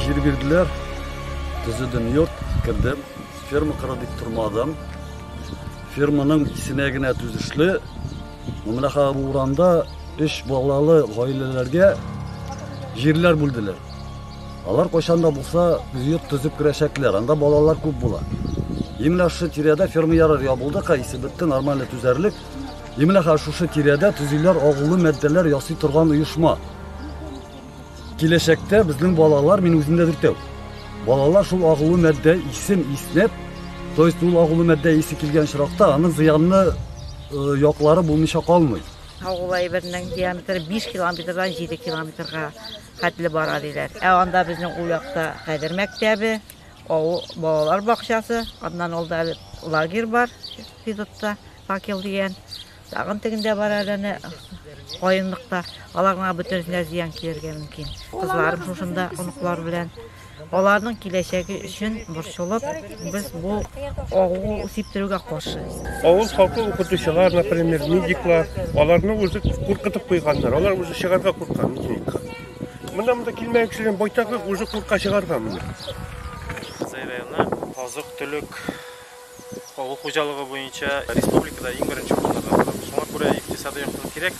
Җир бирделәр, төзедем йорт, кердем, ферма кара дип тормадым. Ферманың исенә генә төзешле, Мамлаха урамда өч балалы гаиләләргә җирләр бүлделәр. Алар кайчан да булса йорт төзеп керәчәкләр. Анда балалар күп була. Именно шушы тирәдә ферма ярар ябылды, кайсы бетте, нормально төзәрлек. Именно хәзер шушы тирәдә төзиләр агулы матдәләр ясый торган оешма. Киләчәктә безнең балалар, мин үзем дә дүртәү. Балалар шул агулы матдә исем иснәп, то есть ул агулы матдә исе килгән чиракта аны зыянны э, яклары булмыйча калмый. Агулай бернең диаметры 5 километрдан 7 километрга хәтле бара, диләр. Ә анда безнең ул якта хәзер мәктәбе, авыл балалар бакчасы, аннан ул да лагерь бар, физотта, факел дигән. Тагын тегендә бар әле әнә каенлыкта. Аларга бөтенесенә зыян килергә мөмкин. Кызларым шушында оныклар белән Аларның киләчәге өчен борчылып, без бу авыл сиптерүгә каршы. Авыл халкы укытучылар, например, медиклар, аларны үзе куркытып куйганнар. Алар үзе чыгарга курка медикка. Монда монда килмәгән кешеләр байтагы үзе курка чыгарга моны. Казай районы азык-төлек авыл хуҗалыгы буенча республикада иң беренче урында тора. Шуңа күрә икътисади яктан кирәк.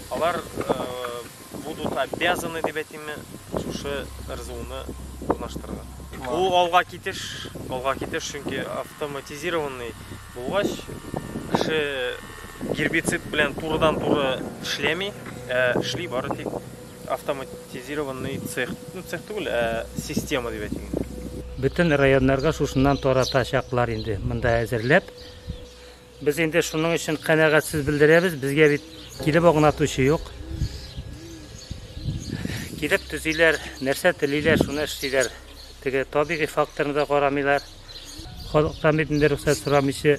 Алар будут обязаны дип әйтимме, шушы РЗУны урнаштырырга. Бу алга китеш, алга китеш, чөнки автоматизированный булгач, кеше гербицид белән турыдан-туры эшләми, ә эшли бары тик автоматизированный цех, ну цех түгел, ә система дип әйтик инде. Бөтен районнарга шушыннан таратачаклар инде, монда әзерләп. Без инде шуның өчен канәгать сүз белдерәбез. Безгә бит килеп агнатучы юк. Килеп төзиләр, нәрсә телиләр, шуны эшлиләр. Теге табигый факторны да карамыйлар. Халыктан бит инде рөхсәт сорамыйчы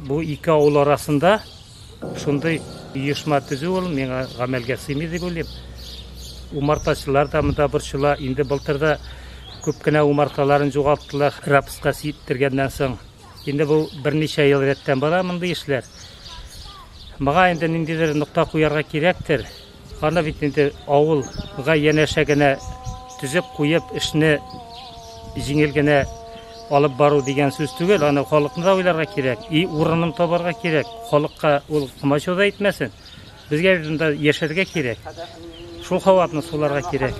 бу ике авыл арасында Шундый оешма төзү ул миңа гамәлгә сыймый дип уйлыйм. Умартачылар да монда борчыла. Инде былтыр да күп кенә умарталарын югалттылар, рапска сиптергәннән соң. Инде бу берничә ел рәттән бара мондый эшләр. Моңа инде ниндидер нокта куярга кирәктер. Аны бит инде авыл га янәшә генә төзеп куеп, эшне җиңел генә алып бару дигән сүз түгел, аны халыкны да уйларга кирәк, и урынын табарга кирәк, халыкка ул комачау да итмәсен. Безгә бит монда яшәргә кирәк, шул һаваны суларга кирәк.